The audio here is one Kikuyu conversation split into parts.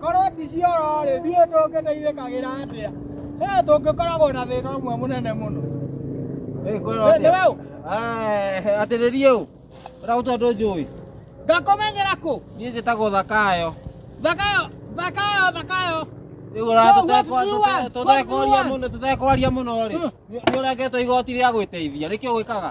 korwo ti cioro rĩ ndiũĩ tũngĩteithĩkagĩra atĩa he tũngĩkoragwo na thĩna ũmwe mũnene mũno nĩwe ũ atĩrĩrie ũ ũragũtwa andũ njũĩ ngakũmenyera kũ niĩ njĩtagwo thakayo thakayo thakayo thakayo rĩu ũratũtekwaria mũno rĩ nĩ ũrengetwo igoti rĩa gwĩteithia nĩkĩo gwĩkaga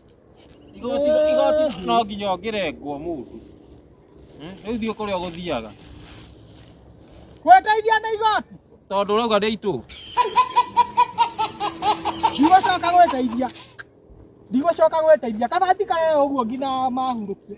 igoti igoti no nginya ũngĩrengwo mũndũ Hmm? rĩu thiĩ kũrĩa ũgũthiaga Kweteithia nĩ igoti. tondũ ũrauga nĩ itũ Ndigũcoka gweteithia. Ndigũcoka gweteithia. Kabati karĩa ũguo nginya mahurũkie.